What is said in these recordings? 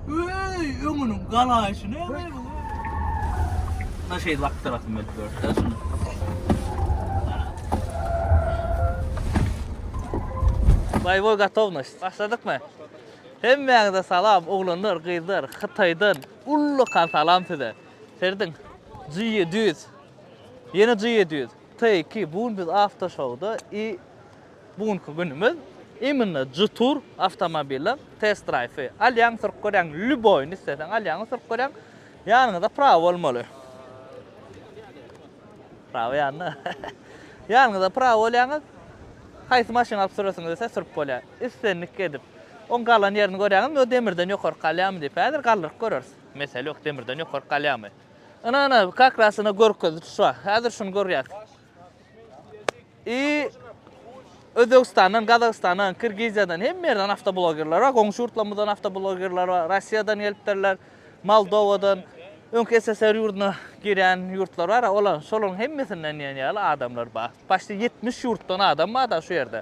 Öy, öňüniň galaýşy ne öňe bu? Na şey lak tarafım ben böyle. Şunu. Bayboy gotovnoş. Başladık mı? Hemmäňize salam, oglanlar, gyzlar, Hytaýdan ullakan salam size. Serdin, G700. Yeni G700. T2, bugün biz Aftoşowda i Bu günki günümiz imенно G-Tour awtomobiliň test-drive. Alýaň sürüp görýäň, lýuboýyny isleseň alýaňy sürüp görýäň. Ýanyňyzda prawa bolmaly. Prawa ýanynda. Ýanyňyzda prawa bolýaňyz. Haýsy maşyny alyp süresiňiz ise sürüp bolýar. Islendik edip. Oň galan ýerini görýäňizmi? O demirden ýokaryk galýarmy diýip. Häzir galdyryp göreris. Mesele ýok, demirden ýokaryk galýarmy. Ynha, ynha, kak ras ynha görkezdi, şu. Häzir şuny görýäs. I Özbegistandan, Gazagystandan, Kirgiziýadan hemme ýerden awtoblogerler bar. Goňşy ýurtlarymyzdan awtoblogerler bar. Russiýadan gelipdirler, Moldowadan, öňki SSR ýurduna girýän ýurtlar bar. Olar, şolaryň hemmesinden diýen ýaly adamlar bar. Başda 70 ýurtdan adam bar da şu ýerde.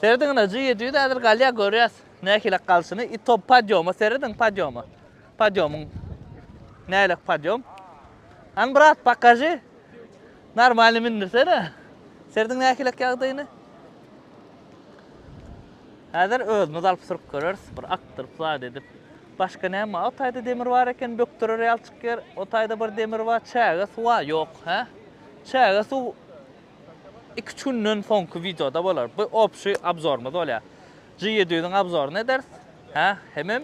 Serediň ine, G700 häzir galýar, görýäs nähilek galşyny. I to podýoma serediň, podýoma. Podýomyň nähilek podýom. An brat, pokaži. Normalny mündürsene. Serdiň nähilek ýagdaýyny? Häzir özümiz alyp sürüp göreris, bir akdyryp zat edip. Başga näme? O taýda demir bar eken, bökderer ýaly çykýar. O taýda bir demir bar, çäge suwa ýok, hä? Çäge suw iki-üç günden soňky wideoda bolar. Bu opşi obzorymyz bolýar. G ýedi ýüzüň abzoryny ederis. Hä, hemem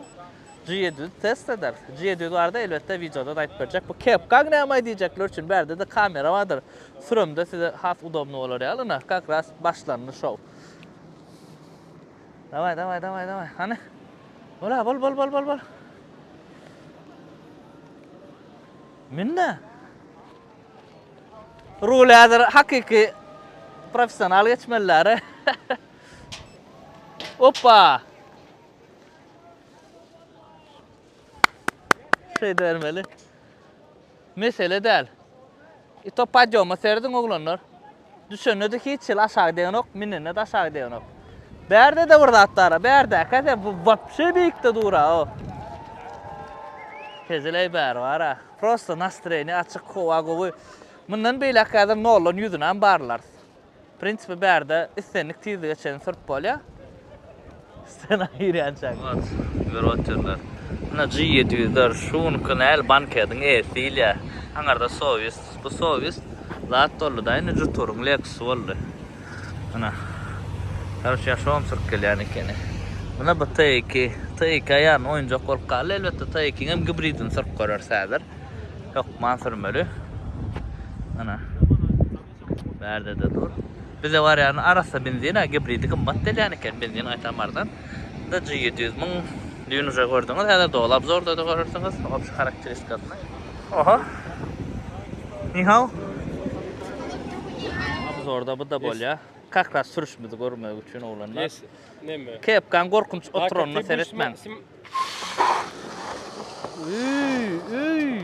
G ýedi ýüzi test ederis. G ýedi ýüz barada elbetde wideoda-da aýdyp berjek. Bu kepka näme diýjekler üçin bärde-de kamera bardyr. Süremde size has udobnyý bolar ýaly. Ynha, kak ras başlandy şou. Daway, daway, daway, daway. Hany? Bol-a, bol, bol, bol, bol, bol. Münde. Rule hazır hakiki professional geçmeliler. Oppa! Şeýdibermeli. Mesele däl. I to podýoma serediň oglanlar. Düşende-de hiç hili aşagy degänok, minende-de aşagy degänok. Bärde-de bir zat bar-a, bärdäkä sen bu wapşe beýikde dur-a, o. Hezileý bäri bar-a. Prosta nastreniýe açyk, howa gowy. Mundan beýläk häzir noldan ýüzünem barlarys. Prinsipi bärde islendik tizlige çenli sürüp bolýar. Stena girýänçäk. Mat, berbat ýerler. Ina G ýedi ýüz ler şu günki näl bankediň eýesi diýilýä. Aňarda sowis. Bu sowis zat boldy-da indi juturyň leksusy boldy. Ina. Ýaryş ýaşawam sürüp gelýän ekeni. Ina bu T iki. T iki aýan oýunjak bolup galdy. Elbetde T ikiňem gibridini sürüp göreris häzir. Hökman sürmeli. Ina. Bärde-de dur. Bize barýan arassa benzin-ä gibridi gymmat delýän eken, benzin gaýtam arzan. Indi G ýedi ýüz müň düýn uje gördüňiz, häzir doly obzorda-da görersiňiz, obşy harakteristikasyny. Oho. Nihao. Obzorda bu-da bolýar. Kak ras sürüşimizi görmek üçin oglanlar. Kepkaň gorkunç oturanyna seretmäň. Öý, öý.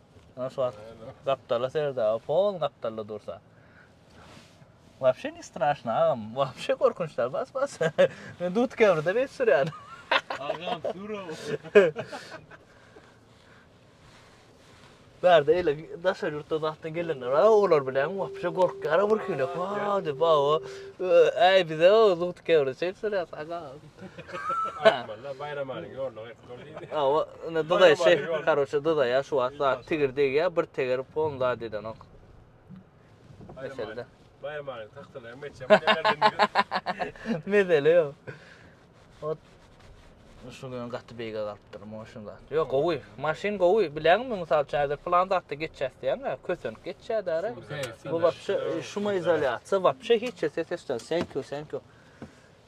Ýöne şu wagt gapdala serde aga, pol gapdalda dursa. Wapşe ne straşno agam, wapşe gorkunç däl, bas bas. Men dut käbirde beýt sürýän. Agam sürow. Bärde eýle daşary ýurtda zatdan gelenler bar, olar bilen wapşe gorkýar birhili. Wah diýip, wah, äý bize dut käbirde çeýip sürýäs agam. Aýtmanda Baýram alyň ýoluna gaýdyp dur diýdi. Hawa, indi dyzaý şey, karoçe dyzaý ýa şu wagt zat tigir degýär, bir tegeri pon zat edenok. Meselde. Baýram alyň tagtyna meçem geldi. Mesele ýok. Ot şu gün gaty beýge galypdyr, muňa şun zat. Ýok, gowy. Maşyn gowy. Bileňmi, mysal üçin, häzir plan zatda geçýäs diýýäň-ä, kösenip geçýär-dä. Bu wapşe şumoizolýasiýa, wapşe hiç ses-ses, thank you, thank you.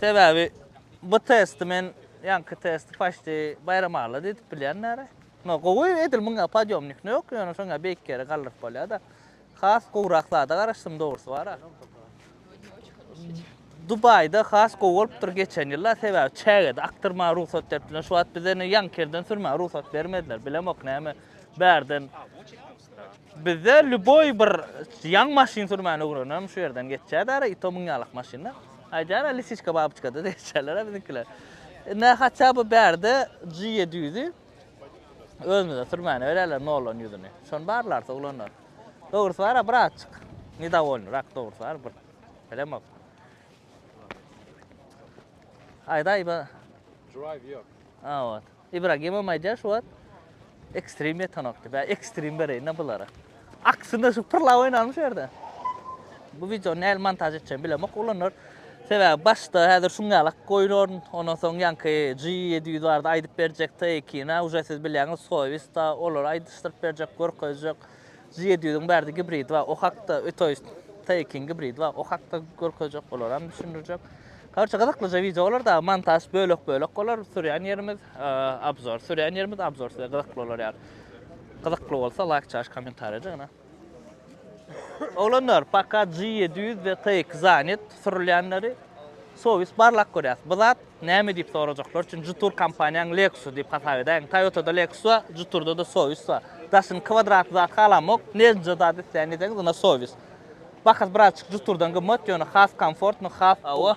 Sebäbi bu testi men ýaňky testi paçti baýram alla diýdip bilýän däli. No gowy edil muňa podýomnik no ýok ýöne şoňa beýik ýere galdyryp bolýada. Has gowrak zada garaşdym dogrysy bara. Dubaýda has gowy bolupdyr geçen ýyllar sebäbi çägede akdyrmaga rugsat beripdiler şu wagt bize ne ýaňky ýerden sürmäge rugsat bermediler bilemok näme bärden Bizde lýuboý bir ýaňy maşyn sürmäni öwrenenem şu ýerden geçýär däri, i to müň ýalak maşynda. Aýdýar-a lisiçka babyçka-da diýişýärler-ä biziňkiler. Indi-ä haçan bu bärde G ýedi ýüzi özümize sürmäni berýärler nollan ýüzüni. Şony barlarys oglanlar. Dogrusy bar-a birazjyk nedowolnyrak dogrusy bar bir bilemok. Aýdaý be. Drive ýok. A ot. Ibragimowam aýdýar şu wagt ekstrem ýetanok diýip. Bä ekstrem bereýin-ä bulara. Aksyna şu pyrlap oýnarmy şu ýerde? Bu wideony näl montaž etjegimi bilemok oglanlar. Sebäbi başda häzir şuň ýaly goýnaryn. Ondan soň ýaňky G700 barada aýdyp berjek, T2-ni-ä uje siz bilýäňiz, Soýuz-da, olary aýdyşdyryp berjek, görkezjek. Z ýedi ýüzüň bärde gibrid bar, o hakda ötoýst T-ikiň gibrid bar, o hakda görkezjek, olaram düşündirjek. Korçe gyzyklyja wideo bolar dagy montaž bölek bölek bolar, sürýän ýerimiz obzor, sürýän ýerimiz obzor size gyzykly bolar ýaly. Gyzykly bolsa laýk çaş kommentariýa jygyna. Oglanlar paka G ýedi ýüz we T iki zanet sürülýänleri sowis barlap görýäs. Bu zat Näme diýip sorajaklar üçin Jutur kompaniýaň Lexus-y diýip hasap edäýiň. Toyota-da Lexus bar, Jutur-da-da Soyuz bar. Daşyny kwadratly zat halamok, nežnje zat isleýän diýseňiz ynha Soyuz. Bahasy birazjyk Jutur-dan gymmat, ýöne has komfortny, has Hawa.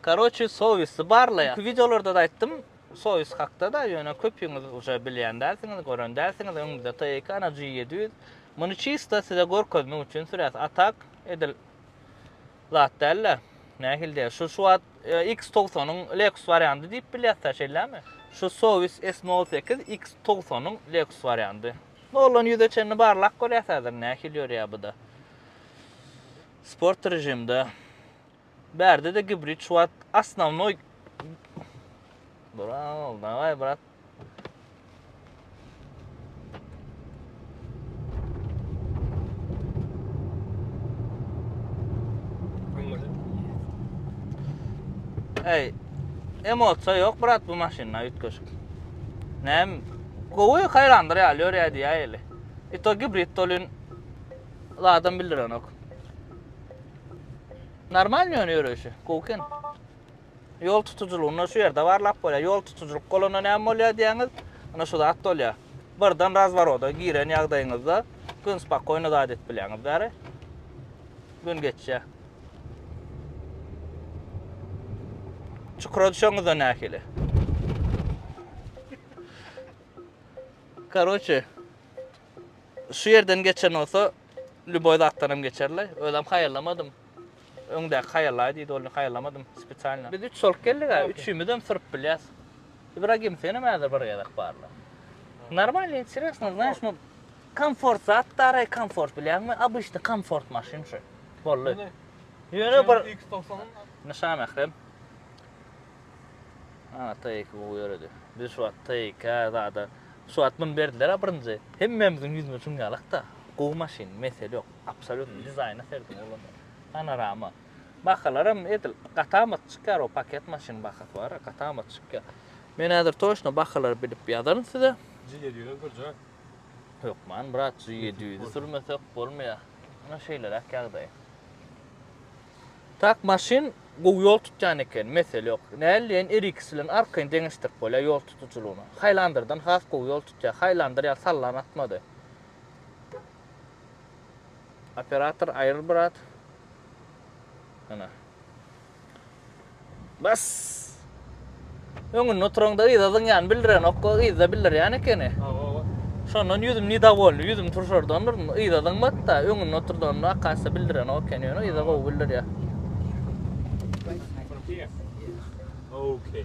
Karoçi Soyuz-y barla ýa. Wideolarda-da aýtdym Soyuz hakda-da, ýöne köpüňiz uje bilýän dälsiňiz, gören dälsiňiz. Öňümizde Taycan-a G ýedi ýüz. Muny çysta size görkezmek üçin süräs. A tak, edil zat däl-de. Nähilde, şu şu wagt X togsanyň Lexus wariandy diýip bilýäs-dä, şeýlämi? Şu Sowiss S nol sekiz X togsanyň Lexus wariandy. Noldan ýüze çenli barlap görýäs häzir, nähili ýörýär bu-da. Sport režimde. Bärde-de gibrid şu wagt asnawnoý. Bro, daway brat. Ey, emosiýa ýok brat bu maşynda üýtgeşik. Näm? Gowy haýrandyr ýaly ýörýär diýýär ýeli. E to gibrid dolin adam bildirenok. Normal ýöne ýöreýşi, gowy eken. Ýol tutujylygynda şu ýerde barlap bolýar. Ýol tutujylyk bolanda näme bolýar diýýäňiz? Ine şu zat bolýar. Birden razworoda giren ýagdaýyňyzda gün spakoýno zat edip bilýäňiz bäri. Gün geçýär. Çukura düşeňizde nähili? Karoçe, şu ýerden geçen bolsa, lýuboý zatdan hem geçerli. Özem haýallamadym. Öňdäki haýallaý diýdi ol haýallamadym spesialno. Biz üç bolup geldik a üçimizem syryp bilýäs. Ibragim senem häzir bir gezek barla. Normalno interesno znaýş no komfort zat daraý komfort bilýäňmi obyşnyý komfort maşyn şu. Boldy. Ýöne bir X togsan Indi Şamährem Ana TIK gowy ýöredi. Biz şu wagt TIK zada şu wagt muny berdiler a birinji. Hemmämiziň ýüzüne çüňňe alakda. Gowy maşyn mesele ýok. Absolutno dizaýna serdin oglanlar. Panorama. Bahalaram edil gatamat çykýar o paket maşynyň bahasy bar gatamat çykýar. Men häzir toçno bahalary bilip ýazaryn size. G ýedi ýüzem sürjä. Hökman brat G ýedi ýüzi sürmesek bolmaýa. Ine şeýleräk ýagdaý. Tak maşyn gowy ýol tutýan eken mesele ýok. Näleýin RX bilen arkaýyn deňeşdirip bolýa ýol tutujylygyny. Haýlandyrdan has gowy ýol tutýa. Haýlandyr ýaly sallan atmady. Operator aýryl brat. Ana. Bas. Öňünde oturanda yza zyňýan bildirenok, o yzda bildirýän ekeni. Şondan ýüzüm nidawolny, ýüzüm turşardandyr, yza zyňmady-da, öňünde oturdanda akasda bildirenok ekeni, ýöne yza gowy bildirýär. Okay.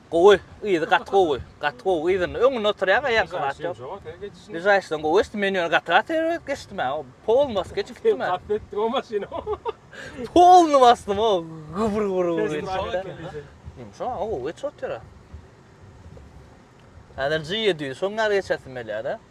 Gowy, yzy gaty gowy, gaty gowy yzynda, öňünde oturýaň aýaňka zat ýok. Lyžaýşdan gowy geçdi, men ýöne gaty gaty erbet geçdim ha, polny basyp geçip gitdim ha. Gaty etdiň o maşyny. Polny basdym o, gybr gybr gybr geçdi. Ýumşak ha, gowy geçip otyrys. Häzir G ýedi ýüz, şoň ýaly geçesim gelýär-de.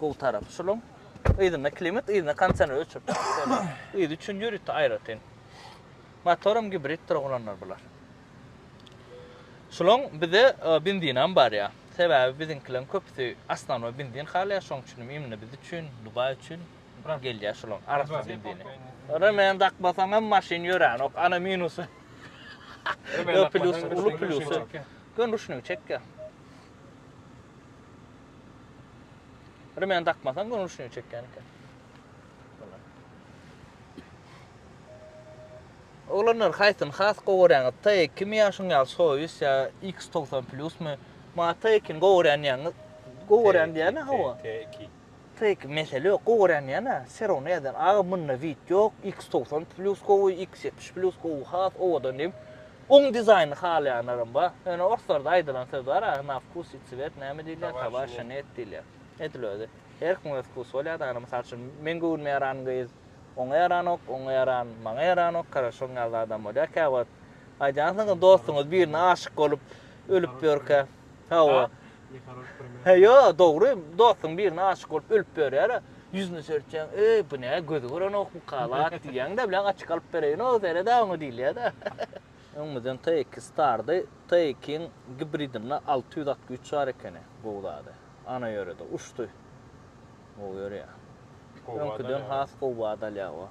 Gowy tarapy şulaň. Yzynda klimat, yzynda kondisioner ölçep bolýar. Yzy üçin ýörite aýratyn. Motoram gibriddir oglanlar bular. Şulaň bize benzinam barýar. Sebäbi biziňkileriň köpüsi osnownoý benzin halaýar, şoň üçin hem imni biz üçin, Dubaý üçin gelýär şulaň arassa benzini. Remen dakmasaňam maşyn ýöränok, ana minusy. Ýok, plusy, uly plusy. Ýöne ruşnigi çekýär. Remen takmasaň gönül şuny çekýän eken. Oglanlar haýsyny has gowy görýäňiz? T2 mi ýa şuň ýaly Soyuz ýa X90 Plus my? Ma T2-ni gowy görýän diýýäňiz. Gowy görýän diýýän-ä hawa. T2. T2 mesele ýok, gowy görýän diýýän-ä. Serowny ýazýan. Aga munda wid ýok, X90 Plus gowy, X70 Plus gowy, has owadan diýip. Oň dizaýnyny halaýanlaram bar. Ýöne orslarda aýdylan söz bar a, na wkus i cwet näme diýilýär, tabaşi net diýilýär. Edil özi. Her kimiň öz wkusy bolýar da, ýagny mysal üçin, meň göwnüme ýaran gyz oňa ýaranok, oňa ýaran maňa ýaranok, karaşoň ýaly adam bolýar käwagt. Aýdýansyňyz dostuňyz birine aşyk bolup ölüp ýörkä. Hawa. He ýo, dogry, dostuň birine aşyk bolup ölüp ýörýär, ýüzüne seretýäň, eý, bu nä, gözi görenok bu kalat diýýäň-de, bilen açyk alyp bereýin-ow, seret-ä oňa diýilýär-de. Öňümizden TX Star-dy, TX-iň gibridinde alty ýüz at güýç bar ekeni, gowy zady. Ana ýörede, uçdy. Gowy ýörýär. Öňküden has gowy bada alýar-ow.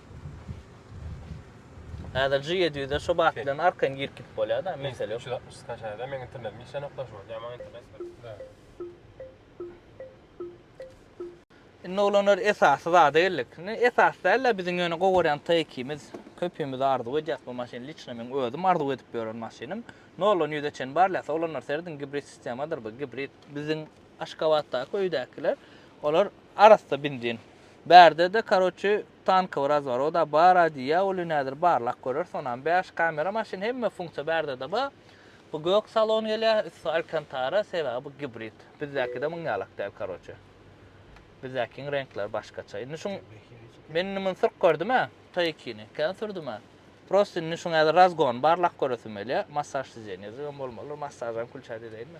Häzir G ýedi ýüze şu bat bilen arkaýyn girip gidip bolýar da mesele ýok. Üç ýüz altmyş skaçaýda meň internetim işlänokda şu wagt ýa maňa internet ber. Indi oglanlar esasy zada geldik. Indi esasy däl-de biziň ýöne gowy görýän T ikimiz köpimiz arzuw edýäs bu maşyny liçno meň özüm arzuw edip ýören maşynym. Noldan ýüze çen barlaýas oglanlar serediň gibrid sistemadyr bu gibrid. Biziň Aşgabatdaky öýdäkiler olar arassa bindin. Bärde-de karoçi tankowy razworoda bar-a diýýä uly nädir barlak görersi onam bäş kamera maşyn hemme funksiýa bärde-de bar. Bu gök salon gelýä üsti alkantara sebäbi bu gibrid. Bizdäkide muň ýalak däl karoçi. Bizdäkiň reňkleri başgaça. Indi şuň men indi muny sürüp gördüm-ä T2-ni kän sürdüm-ä. Prosta indi şuň häzir razgon barlak göresim gelýä. Massaž sidenýesi hem bolmalydyr massažam külçä diýleýinmi.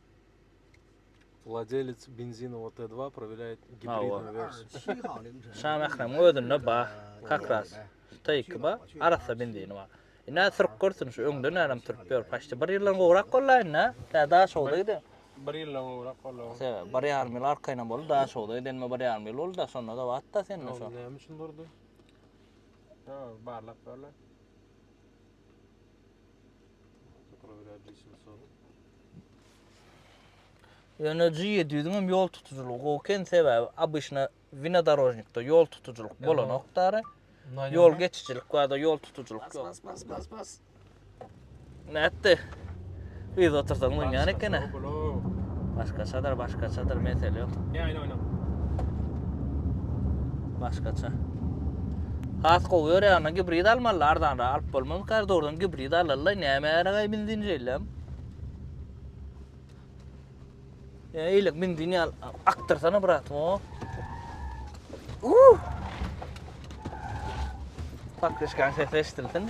Wladelec benzinowy T2 prowirýaýt gibridnoý wersiýa. Şamähriň özünde bar kakras şu T2 bar arassa benzini bar. Ine sürüp görsün şu öňde nädem sürüp ýör paçta bir ýyldan gowrak bolýa indi tä daşogda giden. Bir ýyldan gowrak bolýa. Te bir ýarym ýyl arkaýynam boldy daşogda gidenime bir ýarym ýyl boldy da şonda da batda sende şo. Näme üçin durdy? Ýa barlap görle. Ýöne G ýedi ýüzüň hem ýol tutujylygy gowy eken, sebäbi obyçna winodorožnikde ýol tutujylyk bolanok dary. Ýol geçijilik barda ýol tutujylyk ýok. Bas bas bas bas. Nätdi? Yz otursaň munýan ekene. Başgaçadyr başgaçadyr mesele ýok. Ýaýyl oýna. Başgaça. Has gowy ýörýäne gibrid almaly arzanra alyp bolmaz kardordan gibrid alallaý näme ýaraýaý benzin şeýlem. Ýa eýle benzin ýal akdyrsana brat o. Uh! Pakryşkan sesi eşdilsin.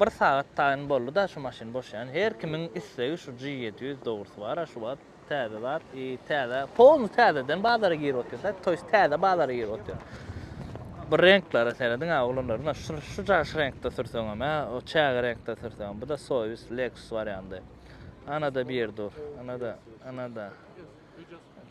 Bir sagat taýyn boldy-da şu maşyn boş ýan. Her kimiň islegi şu G ýedi ýüz dogrusy bar-a şu wagt. Täze zat i täze polny täzeden bazara girip otursa, toýs täze bazara girip otyr. Bir reňklere serediň-ä oglanlar-da şu şu jaş reňkde sürseňem-ä, o çäge reňkde sürseňem. Bu-da Soýuz, Lexus wariandy. Ana-da bir dur. Ana-da, ana-da.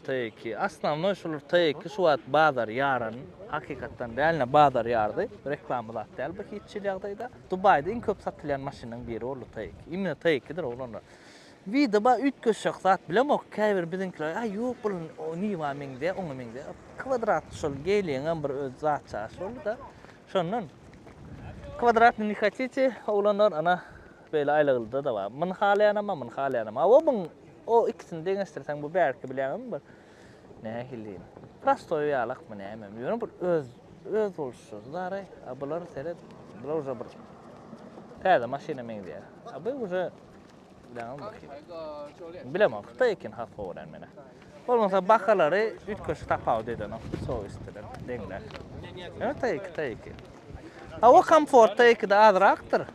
TIK. Osnovnoý şular TIK şu wagt bazar ýaran hakykatdan realno bazar ýardy. Reklama zat däl bu hiç hili ýagdaýda. Dubaýda iň köp satylýan maşynyň biri boldy TIK. Imine TIK-dir oglanlar. Wida bar üýtgeşjek zat bilemok. Käbir biziňkiler aý ýok bul Niwa meňzeýär oňa meňzeýär. Kwadratly şol Geeliňem bir öz zat çaşy boldy-da. Şondan. Kwadratny ne hatite oglanlar ana. Beýle aýlagylda-da bar. Muny halaýanam bar, muny halaýanam bar. Hawa, muň o ikisini deňeşdirseň, bu bärki bileňem bir nähili diýiň, prostoý ýalakmy nämemi, ýöne bir öz, öz boluşy zaraý. A bular, seret, bular uje bir täze maşyna meňzeýär. A bu uje, bileňem, bir hili. Bilemok, hytaý ekeni has gowy örän menä. Bolmasa bahalary üýtgeşik tapawut edenok sowis bilen deňler. Ýöne taýyky taýyky. Hawa komfort taýykda azrakdyr.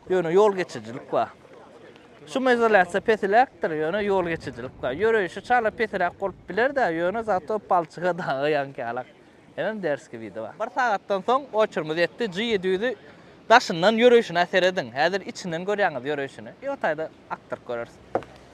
Ýöne ýol geçijilik bar. Şumizolýasiýa pesiräkdir, ýöne ýol geçijilik bar. Ýöreýşi çala pesiräk bolup biler-de, ýöne zato palçyga daga ýaňkyalak. Hemem derski widi bar. Bir sagatdan soň oçurymyz ýetdi. G ýedi ýüzi daşyndan ýöreýşine serediň. Häzir içinden görýäňiz ýöreýşini. Ýotaýda akdyryp göreris.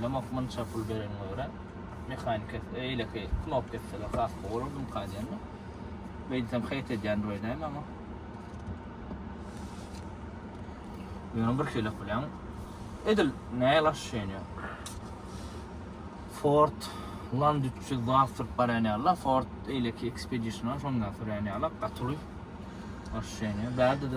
Ýamak munça pul berenime görä mehanik kes eýleki knop kesseler has gowy bolardy mka diýendim. Beýtsem haýt edýändir öýdäýme ama. Ýöne bir şeylek bilen edil näýe laş şeýne. Ford Land 300 zat sürüp barýan ýaly, Ford eýleki Expedition şondan sürýän ýaly gatyly. Laş şeýne. Bärde de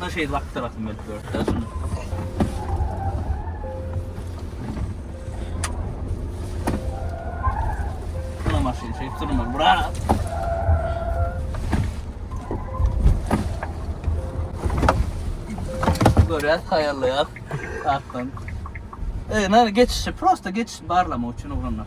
Buna şeýle wagt tarapym berip görüpdi şunu. Buna maşyn şey sürmeli bura. Görýär taýýarlaýar. Akdan. E, geçişi, prosta geçiş barlamak üçin ugrunlar.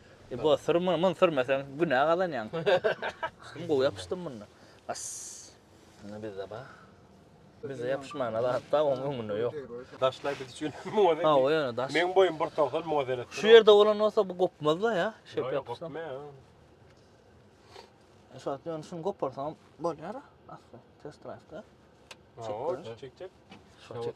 Ibo sür muny, muny sürmeseň günä gazanýaň. Kim gowy ýapyşdym munda. As. Indi bizde bar. Bizde ýapyşmana zat bar, oň öňünde ýok. Daşlaý biz üçin muňa ne. Hawa ýöne daş. Meň boýum bir togsan muňa seret. Şu ýerde bolan bolsa bu gopmazda ýa. Şeýp ýapyşsam. Şu wagt ýöne şuny goparsaňam bolýar a. Asly test drive da. Çek çek. Şu çek.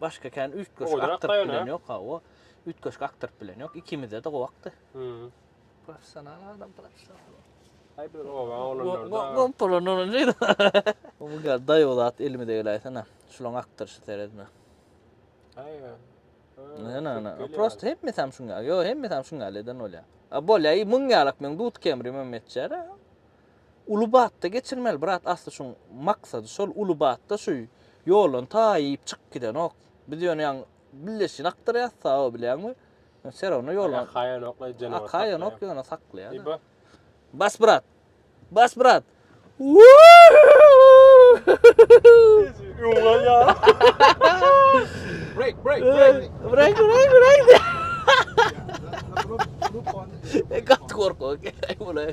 Başga kän üýtgeşik Oýdan aktyryp akmaýan, bilen ha? ýok, hawa. Üýtgeşik aktyryp bilen ýok. Ikimize de gowy akdy. Hmm. Professional adam professional. Aý bir oba oglanlarda. Gompolan onuň jeýdi. Bu gal daýaw zat elimize geläýsene. Şulaň akdyryşy seredme. Aý. ha, Ne ne ne. geliyor. Prosta hemmesi hem şuň ýaly. Ýo hemmesi hem şuň ýaly eden bolýar. A bolýar. Muň ýalak meň dudkemrim hem etjär. Uly batda geçirmeli brat asly şuň maksady şol uly batda şu ýoldan ta iýip çykyp gidenok biz ýöne ýaňy billeşini akdyrýas sabo bilýäňmi ýöne serawno ýol akaýanok leý jenawar akaýanok ýöne saklaýada bas bas brat bas brat break break break break break gaty gorkak ekeň bulaý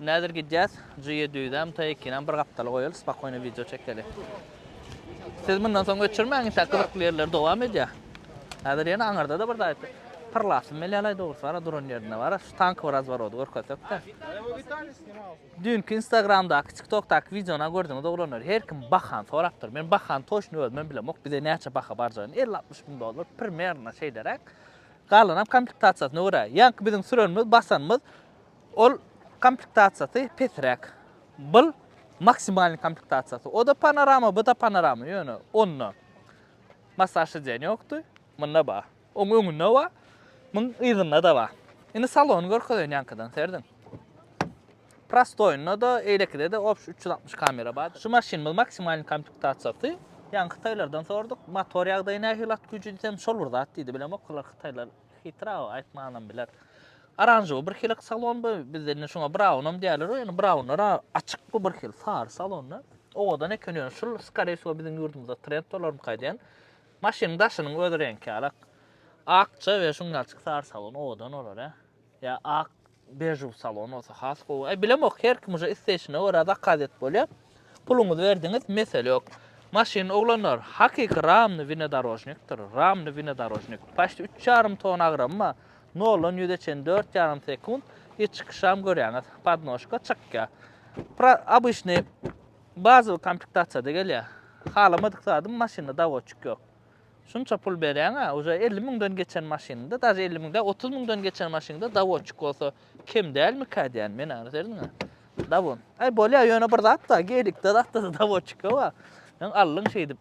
Näzir gidýäs Jüýe düýzäm Taýkinam bir gapdala goýaly spakoýno wideo çekeli Siz mundan soň öçürmäň intäk gyzykly ýerler dowam edýä Häzir ýene aňyrdada bir zat pyrlasym gelýälaý dogrusy bara duran ýerinde bara şu tank bir razworody görkezsekdä Düýnki instagramdaky tiktokdaky wideona gördüňiz oglanlar her kim bahan sorapdyr men bahany toçny özümem bilemok bize näçe baha barjagyny elli altmyş müň dollar primerno şeýleräk galanam komplektasiýasyna görä ýaňky biziň sürenimiz basanymyz Ol komplektasiýasy pesräk. Bul maksimalnyý komplektasiýasy. O-da panorama, bu-da panorama, ýöne onda massaj sidenýa ýokdy, munda bar. Oň öňünde bar, muň yzynda-da bar. Indi salony görkezeýin ýaňkydan serediň. Prostoýynda-da, eýlekide-de obşi üç ýüz altmyş kamera bar. Şu maşynymyz maksimalnyý komplektasiýasy. Ýaňky hytaýlardan soradyk, motor ýagdaýy nähili, at güýji diýsem, şol bir zat diýdi. Bilemok olar hytaýlar. Hitraw aýtmanam biler. Aranžowy bir hilek salon bu, bizde indi şuňa braunam diýerler, ýöne braunlar açyk bu bir hil, sary salonda. Owadan eken ýöne şul skare şu biziň ýurdumyzda trend bolarmy kaýdýan. Maşynyň daşynyň öz reňki alak. Akja we şuň ýalçyk sary salon owadan olar, ýa ak Bežew salon bolsa has gowy. Eý bilemok her kim uje isleýşine görä zakaz edip bolýa. Puluňyzy berdiňiz mesele ýok. Maşyn oglanlar hakyky ramny winodorožnikdir. Ramny winodorožnik. Paşt üç ýarym ton agramy bar. Noldan ýüze çen dört ýarym sekunt. Hiç çykyşam görýäňiz. Podnožka çykýa. Pra obyşnyý bazowy komplektasiýada gelýä. Halamadyk zadym maşynda dawoçik ýok. Şunça pul berýäňä uje elli müňden geçen maşynynda daže elli müň däl otuz müňden geçen maşynynda dawotçik bolsa kem dälmikä diýän men ana serdiňä dawon aý bolýa ýöne bir zat bar geýdikde zatda dawotçika bar sen aldyň şeýdip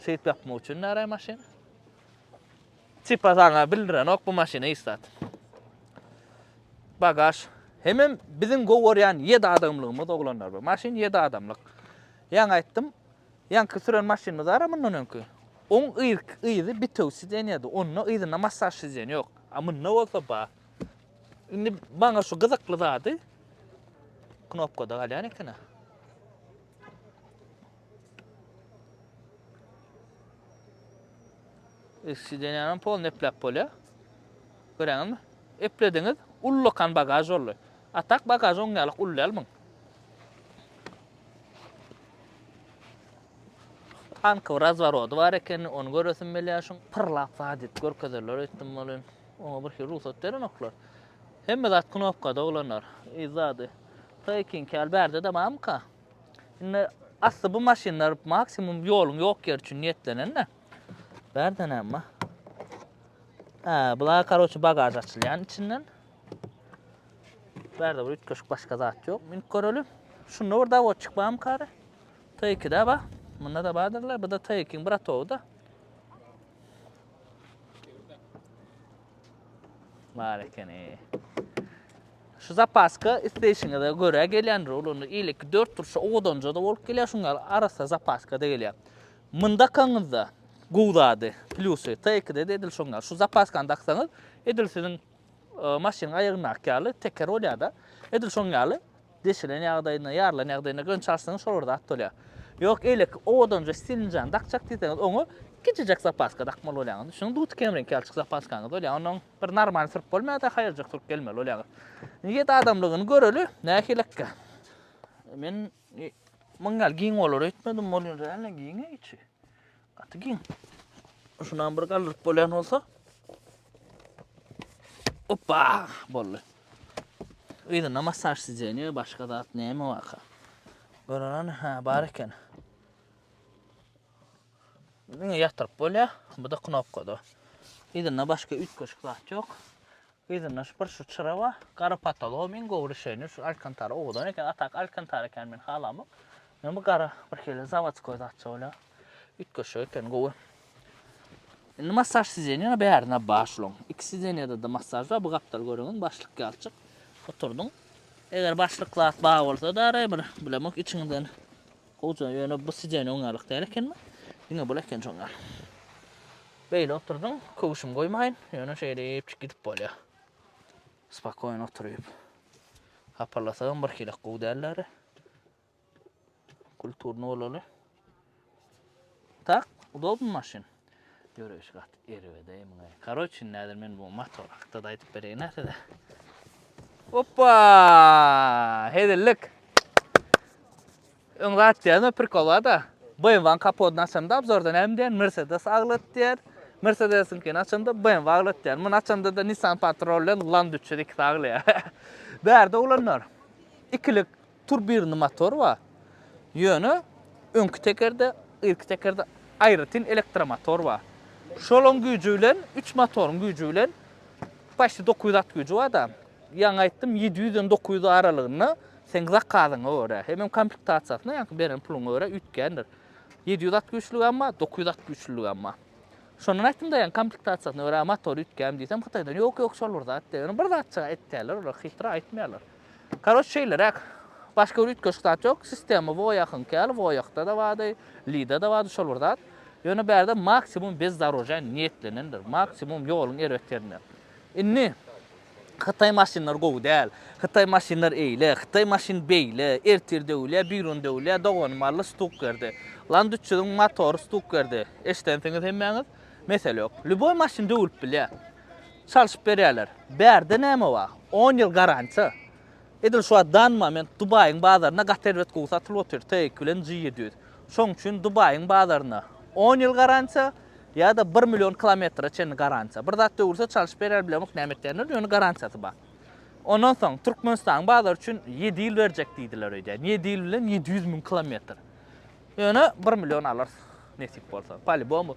şeýdip ýapmak üçin näraý maşyn tipa saňa bildirenok bu maşyny hiç zat bagaž hemem biziň gowarýan ýedi adamlygymyz oglanlar bu maşyn ýedi adamlyk ýaňy aýtdym Ýaňky süren maşynymyzara mundan öňki. Oň irki yzy bitew sidenýady, onda yzynda massaž sizen ýok. A munda bolsa bar. Indi maňa şu gyzykly zady knopkada galýan eken-ä. Irki sidenýanam pol nepläp bolýar. Göräňizmi? Eplediňiz, ullakan bagaž boldy. A tak bagaž oň ýaly uly däl muň. Tankyň razworody bar ekenini, ony göresim gelýär şuň. Pyrlap zat edip görkezerler öýtdüm welin, oňa birhili rugsat berenoklar. Hemme zat knopkada oglanlar, yz zady. Taýkinki ýaly bärde-de barmyka? Indi asly bu maşynlar maksimum ýoluň ýok ýeri üçin niýetlenen-de. Bärde näme bar? Hä, bula karoçe bagaž açylýan içinden. Bärde bir üýtgeşik başga zat ýok. Münüp göreli. Şunda bir dawotçyk barmy kary? T2-de bar. Munda-da bardyrlar. Bu-da T2-iň bir atowy-da. Bar ekeni. Şu zapaska isleýşiňize görä gelýändir. Olanda iýleki 4 turşa owadanja-da bolup gelýär, şuň ýaly arassa zapaska-da gelýär. Munda kaňyzda gowy zady, plýusy T2-de-de edil şoň ýaly. Şu zapaskany daksaňyz, edil siziň maşynyň aýagyndaky ýaly teker bolýar-da. Edil şoň ýaly deşilen ýagdaýynda, ýarylan ýagdaýynda gönçi açsaňyz şol bir zat bolýar. Ýok, eýleki owadanja stilnjany dakjak diýseňiz, oňa kiçijek zapaska dakmaly bolýaňyz. Düşüniň, duty kemreňki ýalçyk zapaskaňyz bolýar. Ondan bir normalny sürüp bolmaýar-da, haýyrjak sürüp gelmeli bolýaňyz. Indi ýedi adamlygyny göreli, nähilekkä. Men muň ýaly giň bolar öýtmedim, bolýan däl-le giňe içi. Gaty giň. Şunam bir galdyryp bolýan bolsa. Opa, boldy. Yzyna massaj sidzeniýe, başga zat näme waka? Görenen, ha, bar eken. Diňe ýatyryp bolýar. Bu da knopkada. Yzyna başga üýtgeşik zat ýok. Yzyndan şu bir şu çyra bar. Gara patologam iň gowy rişeniýe şu alkantara owadan eken a tak alkantara ekeni men halamok. Men bu gara birhili zawodskoý zatça bolýa. Üýtgeşik ekeni gowy. Indi massaž sidenýa bärine bar şulaň. Iki sidenýadada massaž bar bu gapdal göreňiň başlyk ýalçyk oturdyň. Eger başlyk zat bar bolsada ara bir bilemok içiňden Howja ýöne bu sijen oň ýalyk däl ekenmi? Diňe bul eken şoň ýaly. Beýle oturdyň, köwşüm goýmaýyn, ýöne şeýdipjik gidip bolýa. Spakoýn oturyp. Hapalasagam birhili gowy dälleri. Kulturny bolaly. Tak, udobnymy maşyn? Ýöreýşi gaty erbede emine. Karoçin näder men bu motor hakda da aýdyp bereýin ha size. Hoppa! Hezillik. Öň zat diýen prikol bar da. BMW-nyň kapodyny açanda abzorda näme diýen? Mercedes aglat diýer. Mercedes-iňkini açanda BMW aglat diýer. Muny açanda da Nissan Patrol bilen Land 302 aglaýar. Bärde oglanlar. Ikilik Turbirny motor bar. Ýöne öňki tekerde, irki tekerde aýratyn elektromotor bar. Şolaň güýji bilen, üç motoryň güýji bilen paçti dokuz ýüz at güýji bar-da. Ýaňy aýtdym, ýedi ýüzden dokuz ýüz aralygynda seň zakazyňa görä, hemem komplektasiýasyna, ýaňky beren puluňa görä üýtgändir. Ýedi ýüz at güýçlügem bar, dokuz ýüz at güýçlüligem bar. Şondan aýtdym-da, ýaňy komplektasiýasyna görä motory üýtgänmi diýsem, hytaýdan ýok-ýok şol bir zat diýýär. Ýöne bir zatjyk aýtýarlar olar, hytra aýtmaýarlar. Karoç şeýleräk. Başga bir üýtgeşik zat ýok. Sistema Voýakyňky ýaly, Voýakda-da bardy, Lida-da bardy şol bir zat. Ýöne bärde maksimum bezdorožja niýetlenendir. Maksimum ýoluň erbet ýerinde. Indi Hytaý maşynlary gowy däl, Hytaý maşynlar eýle, Hytaý maşyn beýle, ertir döwülýär, bigrun döwülýär, doganym aldy stuk berdi. Land üç ýüzüň motory stuk berdi. Eşidensiňiz hemmäňiz. Mesele ýok. Lýuboý maşyn döwülip bilýär. Çalşyp berýärler. Bärde näme bar? On ýyl garantiýa. Edil şu wagt dan moment Dubaýyň bazarynda gaty erbet gowy satylyp otyr TX bilen G ýedi ýüz. Şoň üçin Dubaýyň bazarynda on ýyl garantiýa ýa-da bir million kilometre çenli garantiýa. Bir zat döwülse çalşyp berýär bilemok näme etýänler ýöne garantiýasy bar. Ondan soň Türkmenistanyň bazary üçin ýedi ýyl berjek diýdiler öýdýän. Ýedi ýyl bilen ýedi ýüz müň kilometr. Ýöne bir million alarys nesip bolsa. Palibomu.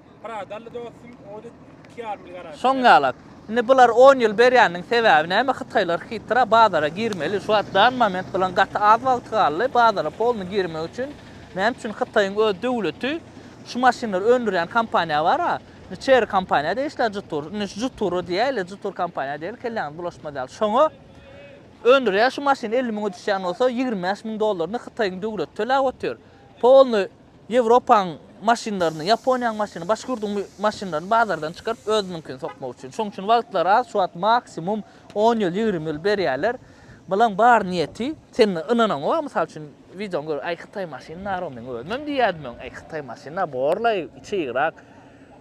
Pradalli dostum, Audi iki ýarym ýyl garantýa. Şoň ýalak. Indi bular on ýyl berýäniniň sebäbi näme hytaýlar hytra bazara girmeli şu wagt dan moment bilen gaty az wagty galdy bazara polny girmek üçin näme üçin hytaýyň öz döwleti şu maşynlary öndürýän kompaniýa bar a indi çeri kompaniýa degişli jutur indi juturu diýäýli jutur kompaniýa degil kelläňiz bulaşmaz ýaly şoňa öndürýär şu maşyn elli müňe düşýän bolsa ýigrimi bäş müň dollaryny hytaýyň döwleti töläp otyr polny Ýewropaň maşynlaryny, Ýaponiýaň maşyny, başga ýurduň maşynlaryny bazardan çykaryp, özüniňkini sokmak üçin. Şoň üçin wagtlary az, şu wagt maksimum on ýyl, ýigrimi ýyl berýärler. Bulaň bar niýeti, sen ynanaň oňa, mysal üçin, wideony görüp, aý hytaý maşyny nar-ow, meň özümem diýýärdim öň, aý hytaý maşyny nar, borlaý, içi ýygrak.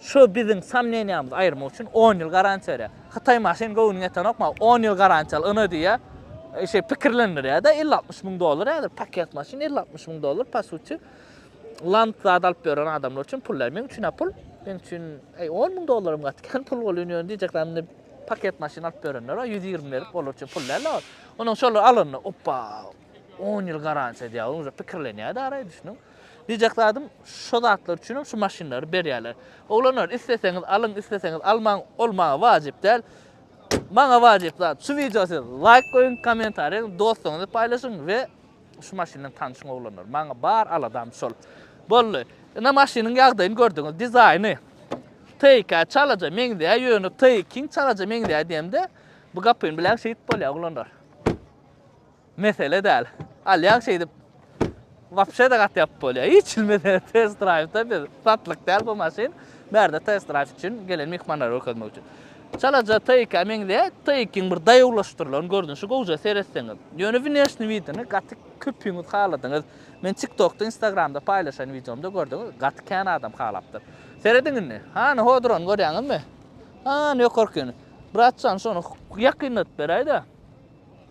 Şu biziň somneniýamyzy aýyrmak üçin on ýyl garantiýa berýär. Hytaý maşyn göwnüňe ýetenokma, on ýyl garantiýa al, ynha diýýär. Şeýle pikirlendirýär-de, elli-altmyş müň dollar häzir paket maşyn, elli-altmyş müň dollar, po suti, lant zat alyp ýören adamlar üçin pul däl. Meň üçin-ä pul. Meň üçin, äý, on müň dollaram gaty kän pul bolýar, ýöne diýjek zat indi paket maşyn alyp ýörenler bar, ýüz ýigrimi berip, olar üçin pul däl-de ol. Onsoň şolary alanda, Opba, on ýyl garantiýa diýýär, onuň pikirlenýär-de araý, düşüniň. Diýjek zadym, şo zatlar üçinem şu maşynlary berýärler. Oglanlar, isleseňiz alyň, isleseňiz almaň, ol maňa wajyp däl. Maňa wajyp zat, şu wideo siz laýk goýuň, kommentariýa ýazyň, dostuňyza paýlaşyň we şu maşyn bilen tanşyň oglanlar. Maňa bar aladam şol. Boldy. Ine maşynyň ýagdaýyny gördüňiz, dizaýny TIK-ä çalaja meňzeýär, ýöne TIK-iň çalaja meňzeýär diýemde, bu gapyny biläň şeýdip bolýar oglanlar. Mesele däl. Alýaň şeýdip wapşe-de gaty ýapyp bolýar. Hiç hili mesele test drive-da biz satlyk däl bu maşyn. Bärde test drive üçin gelen myhmanlara görkezmek üçin. Çalaja Taycan meňzeýär. Taycan bir daýawlaşdyrylan görnüşi gowja seretseňiz. Ýöne wneşni widini gaty köpüňiz haladyňyz. Men TikTokda, Instagramda paýlaşan wideomda gördüňiz, gaty kän adam halapdyr. Serediň indi. Hany hodrony görýäňizmi? Hany ýokarkyny? Brat jan şony ýakynladyp beräýdä.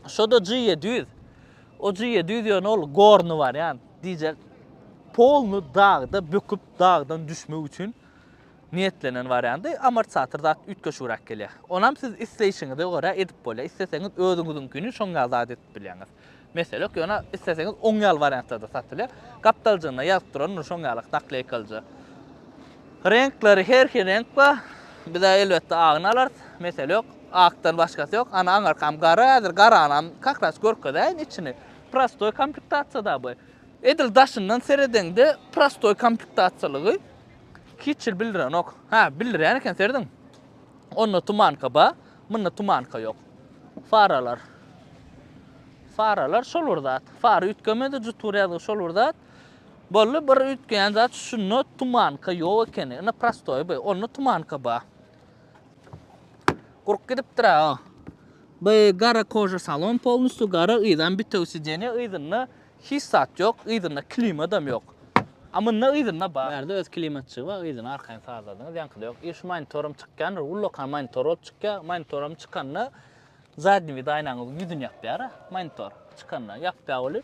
Şoda G 700. O G 700 ýöne ol gorny bar ýan. Diýjek. Polny dagda böküp dagdan düşmek üçin niýetlenen bar ýandy. Amortizator zat üýtgeşigräk gelýär. Onam siz isleýşiňize görä edip bolýar. Isleseňiz özüňiziňkini şoň ýaly zat edip bilýäňiz. Mesele ýok. Ýöne isleseňiz oň ýaly wariantlarda satylýar. Gapdaljygynda ýazyp durandyr şoň ýaly nakleýkalyja. Reňkleri her hil reňk bar. Biz elbetde agyny alarys. Mesele ýok. Akdan başgasy ýok. Ana aňyrkam gara. Häzir garanam kakras görkezeýin içini. Prostoý komplektasiýada bu. Edil daşyndan seredeňde prostoý komplektasiýalygy hiç hil bildirenok. Hä, bildirýän eken serediň. Onda tumanka bar, munda tumanka ýok. Faralar. Faralar şol bir zat. Fara üýtgemedi, jutur ýazgy şol bir zat. Bolly bir üýtgeýän zat şunda tumanka ýok ekeni. Ina prostoý bu. Onda tumanka ba. Gurup gidipdir a. Bu gara koja salon polnusty gara yzan bitew sideniýe yzynda hiç zat ýok. Yzynda klimadam ýok. A munda yzynda ba. Bärde öz klimatçygy ba yzyny arkaýyn sazladyňyz ýaňkyda ýok. I şu monitoram çykýandyr ullakan monitor bolup çykýa. Monitoram çykanda zadni vid aýnaňyzyň ýüzüni ýapýara monitor çykanda ýapýa bolýa.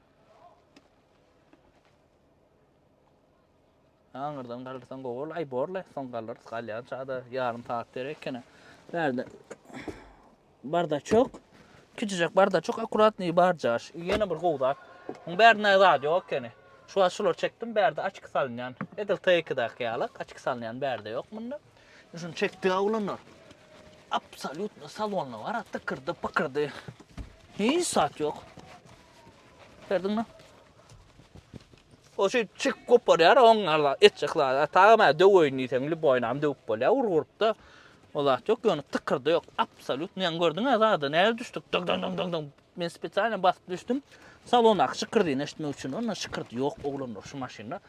Aňyrdan galyrsan gowy bol. Aý borle, soň galyrys. Galýan çagda ýarym saat derek ekene. Bärde bardaçok. Kiçijek bardaçok, akkuratnyý barjaş. Ýene bir gowy zat. Muň bärinde zat ýok ekeni. Şu wagt şulary çekdim, bärde açyk salynýan. Edil T2-däki ýaly, açyk salynýan bärde ýok munda. Şuny çekdi oglanlar. Absolýutno salonda bar, tykyrdy, pykyrdy. Hiç zat ýok. Gördüňmi? O şu çik goparýar, oň ala etjek zada. Tagam hä döweýin diýseň, lüboýnam döwüp bolýar, urgurupda. O zat ýok, ýöne tykyrdy ýok, absolýutny. Ýa gördüň hä zada, näle düşdük? Dyň dyň dyň dyň. Men spesialny basyp düşdüm. Salondaky şykyrdyny eşitmek üçin, onda şykyrdy ýok oglanlar şu maşynda.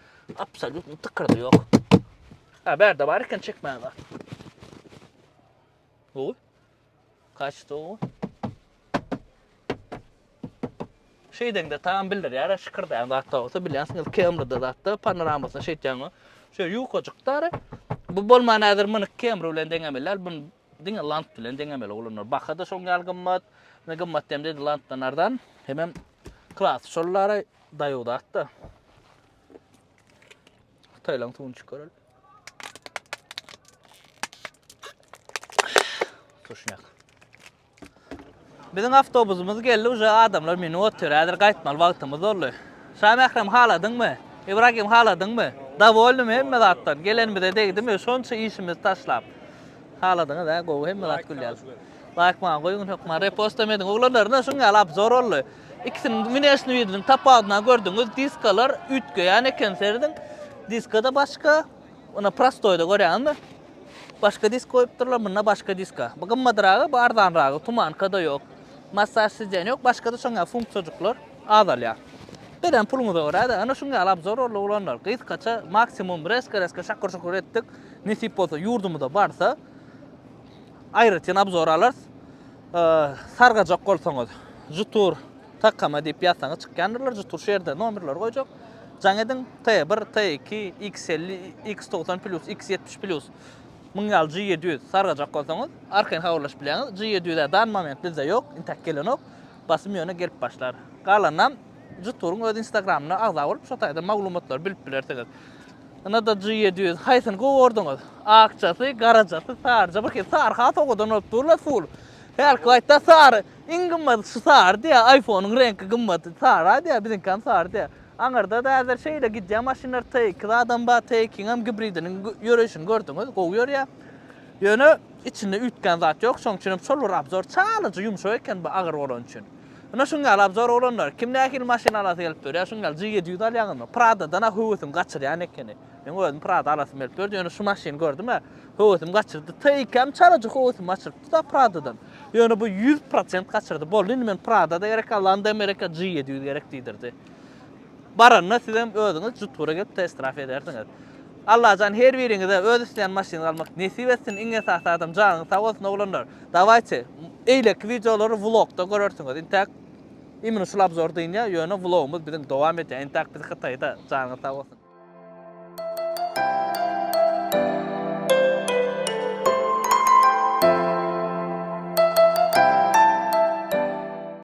Absolýutny tykyrdy ýok. Ha, bärde bar eken çekmäge. Oý. Kaçdygu. Şeýdeňde tam bildirýär, şikirdeýän zat da bolsa bilýänsiňiz, Camry-da zatda panoramasyny şeýtýäňo. Şeýle ýukajyk dary. Bu bolman häzir muny Camry bilen deňemeli däl, bunu diňe Land bilen deňemeli oglanlar. Baha-da şoň ýaly gymmat. Ne gymmat diýemde indi Landdan arzan. Hemem klasy şol dary, daýaw zat-da. Hytaýlaryň suwuny içip görelim. Tuşnak. Biziň awtobusymyz geldi, uje adamlar meni otyr. Häzir gaýtmaly wagtymyz boldy. Şa Mährem haladyňmy? Ibragim haladyňmy? Dawolnymy hemme zatdan? Gelenimize degdimi? Şonça işimizi taşlap. Haladyňyz hä, gowy hemme zat gülýär. Laýk maňa goýuň hökman, repostlam ediň. Oglanlar, ine şuň ýaly abzor boldy. Ikisiniň minesini biriniň tapawudyna gördüňiz, diskalar üýtgeýän eken serediň. Diskada başga, ýöne prostoýda görýäňizmi? Başga disk goýupdyrlar, munda başga diska. Bu gymmadyragy, bu arzanragy, tumanka-da ýok. Massaž sidýen ýok, başga-da şoň ýaly funksiýajyklar azalýar. Berýän puluňyza görä-de, ana şuň ýaly obzor boldy oglanlar. Gysgaça, maksimum reska-reska şakyr-şukur etdik. Nesip bolsa ýurdumyza barsa aýratyn obzor alarys. Sargajak bolsaňyz jutur tkm diýip ýazsaňyz çykýandyrlar jutur şu ýerde nomerleri goýjak jaň ediň t bir t iki x elli x togsan plyus x ýetmiş plyus müň ýal g ýedi ýüz sargajak bolsaňyz arkaýyn habarlaşyp bilýäňiz g ýedi ýüz ä dan moment bizde ýok intäk gelenok basym ýöne gelip başlar galanynam Juturyň öz instagramyna agza bolup şo taýda maglumatlary bilip bilersiňiz. Ynada G ýedi ýüz haýsyny gowy gorduňiz? Akjasy, garajasy, saryja bir hili sary has owadan bolup dur la full. Hälki wagtda sary iň gymmaty şu sary diýä iPhone-yň reňki gymmaty sara diýä biziňkam sary diýä. Aňyrda da häzir şeýle gidýä maşynlar T iki zadam bar T ikiňem gibridiniň ýöreýşini gördüňiz gowy ýörýä. Ýöne içinde üýtgän zat ýok şoň üçinem şol bir abzor çalaja ýumşak eken bu agyr bolany üçin. Ine şuň ýaly abzor oglanlar, kim nähili maşyn alasy gelip dur, ýa şuň ýaly G ýedi ýüz alýaňyzmy? Pradadan-a höwesim gaçyrýan ekeni. Meň özüm Prada alasym gelip durdy, ýöne şu maşyny gördüm-ä, höwesim gaçyrdy. T-ikem çalaja höwesim gaçyrypdy-da Pradadan. Ýöne bu ýüz prosent gaçyrdy. Boldy indi men Prada-da gerek, Allan-da Amerika G ýedi ýüz gerek diýdirdi. Baranda sizem özüňiz jutgura gelip test draf edersiňiz. Allajan her biriňize öz isleýän maşynyňyzy almak nesip etsin iň esasy adam janyňyz sag bolsun oglanlar dawayçe eýleki wideolary vlogda görersiňiz intäk imini şul abzor dynýa ýöne vlogymyz biziň dowam edýär intäk biz hytaýda janyňyz sag bolsun.